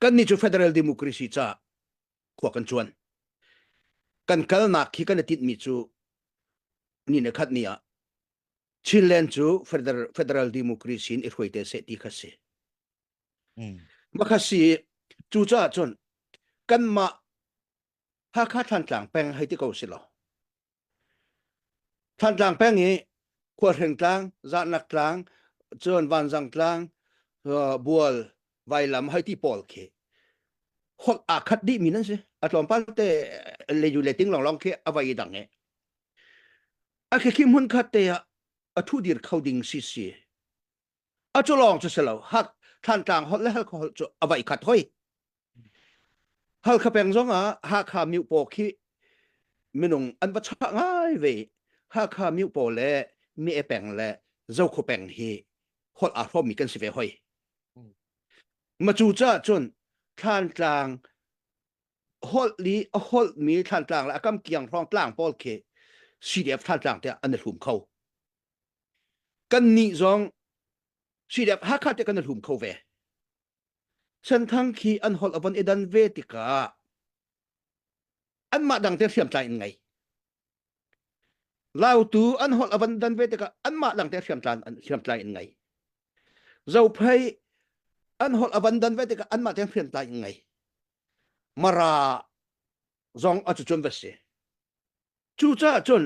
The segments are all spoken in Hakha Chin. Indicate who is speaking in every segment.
Speaker 1: kannih cu federal democracy caah khua kan cuan kan kalnak khi kan i tinhmi cu ni ne khat ni ah Chinland cu federal, federal democracy in i hruai te seh ti kha si. Mm. Makha si cu caah cun kanmah Hakha Thlantlang peng hei ti ko si lo Thantlang peng i Khuahreng tlang, Zahnak tlang, cun Vanzang tlang, Bual, Vailam hoi ti pawl khi huak aa khat dih mi nan si. A tlawmpal te leju le ting lawnglawng khi a vai dang i a khi khi hmun khat te ah a thu dir kho ding si si. a cu lawng cu si lo hak thlantlang holh le halkha holh cu a vai khat hoi halkha peng zong ah hakha miu paw khi minung an va cha ngai ve hakha miu paw le me peng le zokho peng hi hol a hrom mi kan si ve hoi ma cu cha cun thlantlang hol li a hol mi thlantlang le a kam kiang hrong tlang pawl khi CDF thlantlang te an hlum kho kan nih zong sidep hakha te kan a hlum kho ve chanthang khi an hol avon edan ve tikah an mah dang te hriam tlai in ngai lautu an hol avan dan ve tikah an mah dang te hriam tlai an hriam tlai in ngai zophei an hol avan dan ve tikah an mah te hriam tlai in ngai mara zong a cu chun ve si cu ca cun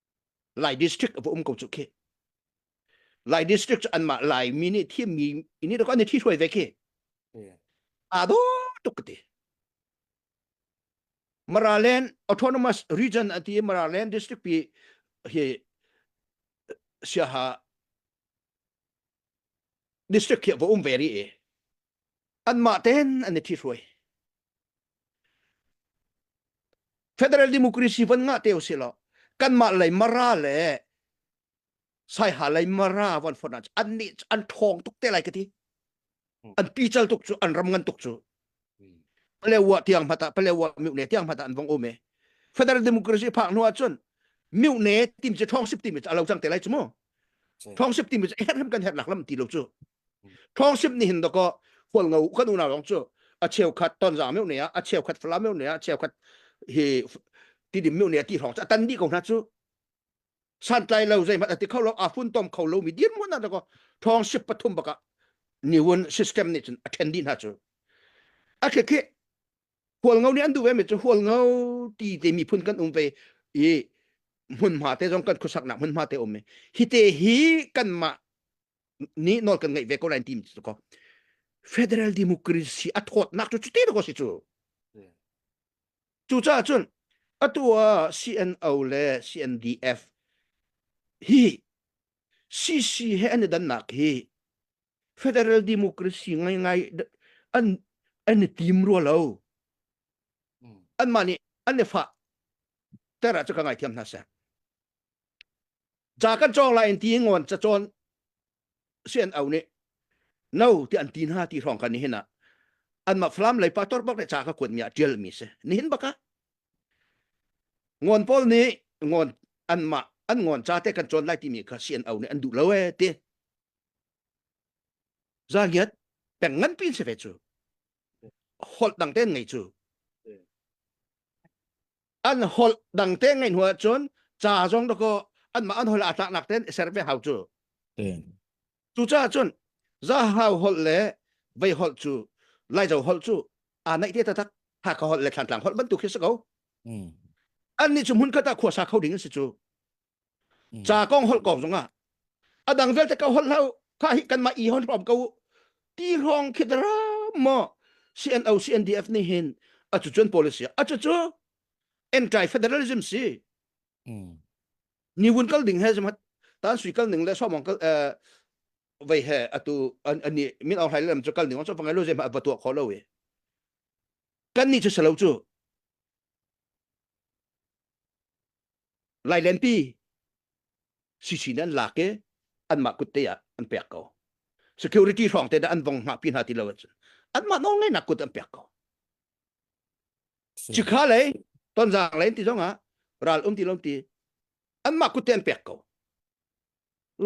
Speaker 1: Lai district a um ko cu khi. Lai district an mah Lai mi nih thiam mi ini da kan thi hruai ve khi. A do tuk ti. Maraland autonomous region ati Maraland district pi hi siaha district hi va um veri e. anmah ten an i thihruai federal democracy van ngah te usih law kanmah lei mara le saiha lei mara van fon an nih an thong tuk te lai ka ti an pical tuk cu an ram ngan tuk cu pale wa tiang mata pale wa miu ne tiang mata an vong ome federal democracy phak hnu cun miu ne tim che thong sip tim che alo chang te lai chu mo thong sip tim che her hem kan her nak lam ti lo chu thongsim ni hin doko hual ngo kan unau rong chu a cheu khat ton za meu ne a a cheu khat fla meu ne a cheu khat hi ti dim meu ne ti thong cha tan di ko na chu san tlai lo zai mat ati kho lo a fun tom kho lo mi dir mon na doko thong sip pathum baka ni won system ni chun attend di na chu a khe khe hual ngo ni an du ve mi chu hual ngo ti te mi phun kan um ve i mun ma te zong kan khusak na mun ma te om me hi te hi kan ma ni nol kan ngeih ve ko lai ti cu ko federal democracy a thawt nak cu cuti lo si cu cu ca cun atu ah CNO le CNDF hi CC he an i dannak hi federal democracy ngai ngai an an i tim rua lo an mah nih an i fa tera cu ka ngai thiam hna seh ca kan cawng lai in ti ngon ca cawn sian au nih no ti an ti hna ti hrawng kan nihin ah an ma flam lei pa tor bak le ca ka kuat mi ah tial mi se nihin baka ngon paul nih ngon an ma an ngon ca te kan cawn lai ti mi kha sian au nih an duh lo e ti za ngiat peng ngan pin se ve cu holh dang ten ngei cu an hol dang te ngai hnu ahcun ca zong da ko anmah an hol aa tlaknak ten i ser ve hau cu cucaah cun za hau holh le vei holh cu laizo holh cu aa naih te tatak haka holh le thlantlang holh bantuk khi si ko annih cu hmun khat ah khuasa kho ding an si cu ca kong holh kong zongah a dang vialte ka holh hlau kha hi kanmah i hon rom ko ti hrawng khidra mo CNO CNDF nih hin a cu cun policy a cu cu anti federalism si ni wun kal ding he zmat tan sui kal ning le so mong kal vei he atu ani min au hlai lam chu kal ning so pangai lo je ma batu kho lo we kan ni chu selo chu lailenpi sisi nih an lak i anmah kutte ah an pek ko security hrawng te dah an vong hngah pi hna ti lo anmah nawlngeihnak kut an pek ko cikha lei tonzang lei ti zongah ral um ti lom ti anmah kutte an pek ko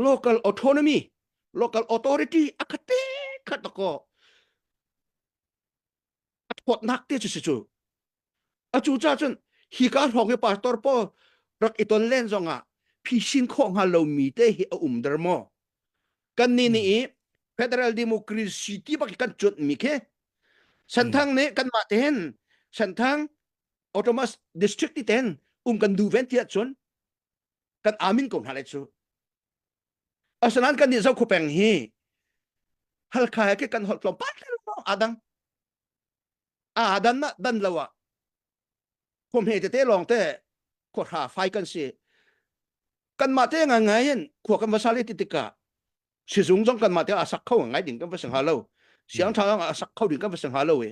Speaker 1: local autonomy local authority akate khat ko a thawtnak te cu si cu a cu ca cun hi ka hrawng hi pastor paul rak i ton len zong ah phisin khawh hnga lomi te hi a um der maw kan ni ni i federal democracy ti bak kan chut mi khi santhang ne kan ma te hen santhang autonomous district ti ten um kan du ven ti chun kan amin ko hna lai chu Asinain kannih zoh khupeng hi Halkha he kan holh tlawm pat adang a dan na dan lo ah khumhe tete lawng te khua hra fai kan si kan mah te ngai ngai in khua kan va sali ti tika sizung zong kan mah te a sak kho ngai ding kan va sing ha lo siang tha a sak kho ding kan va sing ha lo e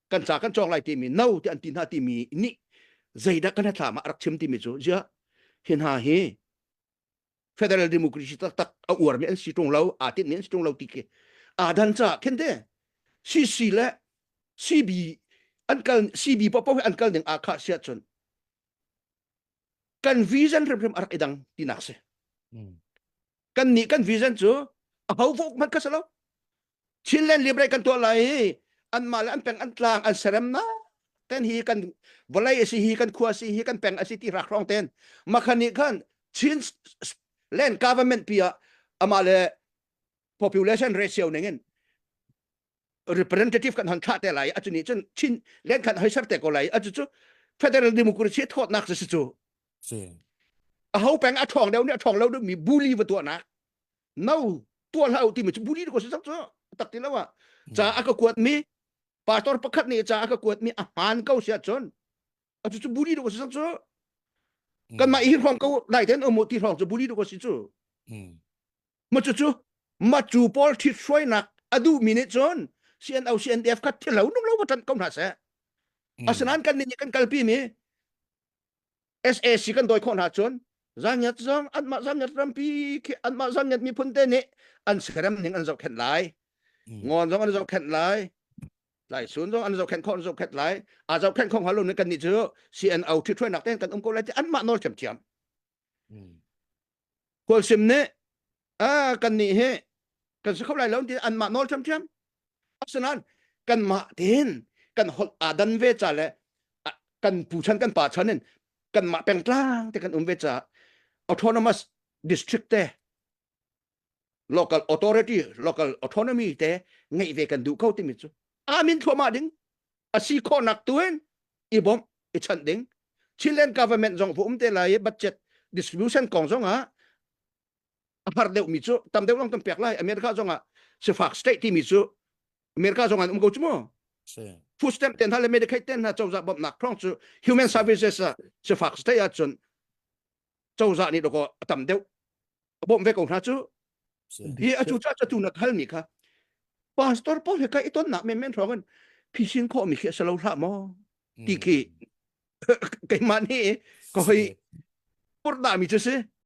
Speaker 1: kan ca kan cawk lai timi no ti an ti hna timi nih zeidah kan hlathlaam ah rak chim timi cu ziah hi hna hi federal democracy taktak a uarmi an si ṭung lo aa tinhmi an si ṭung lo ti khi aa dan caah khin te CC le CB an kal CB popo an kal ding aa khah si ahcun kan vision hrimhrim a rak i dang tinak si kan nih kan vision cu a ho fuk hmanh ka si lo Chin le Libre kan tuah lai hi anmah le an peng an tlang an serem na ten hi kan vawlei a si hi kan khua si hi kan peng a si ti rak rong ten makhan nih khan Chin land government pi ah ama le population ratio ning in representative kan han thla te lai a chuni cun Chin len khan hoi ser te ko lai a chu chu federal democracy thawtnak si chu a ho peng a thong deu ni a thong lo mi buli va tuah nak no tua hla ti mi cu buri ko sak cu tak ti lo a cha aka kuat mi pastor pakhat nih cha aka kuat mi a hman ko sia chon a cu cu buri ko sak cu kan ma hi rong ko dai ten omo ti rong cu buri ko si cu ma cu cu ma cu pol thit soi nak adu mi ne chon CNO CNDF khat thilo nung lo ba tan ko na se asanan kan ni kan kalpi mi SAC kan dawi khawh hna cun zanyat zong anmah zanyat rampi khi anmah zanyat miphun te nih an serem ning an zohkhenh lai ngon zong an zohkhenh lai lai sun zong an zohkhenh khawh an zohkhenh lai a zohkhenh khawh halo nih kan ni cu CNO ṭhi ṭhuainak ten kan um ko lai ti anmah nawl thiam thiam Khual sim nih a kannih hi kan si kho lai lo ti anmah nawl ṭhiamṭhiam. Asinain kanmah tein kan holh aa dan ve ca le kan pu chan kan pa chan in kanmah pengtlang te kan um ve caah autonomous district te local authority local autonomy te ngei ve kan duh ko timi cu amin thluama ding asi khawhnak tu in i bom i chan ding Chilean government zong vo um te lai budget distribution kong zong ah har deuh mi cu tam deuh long tam pek lai America zong ah sifak state timi cu America zong an um ko chu mu food stamp ten ha le medical ten ha chawza bom nak khong chu human services ah sifak state ah cun cozah nih dawkaw a tam deuh a bawm ve ko hna cu hi a cu ca tu na hal mi kha pastor paul he kai i ton nak men men hrawng an phising kho mi khi sa lo hla maw ti khi keimah ni ko hoi purda mi chu si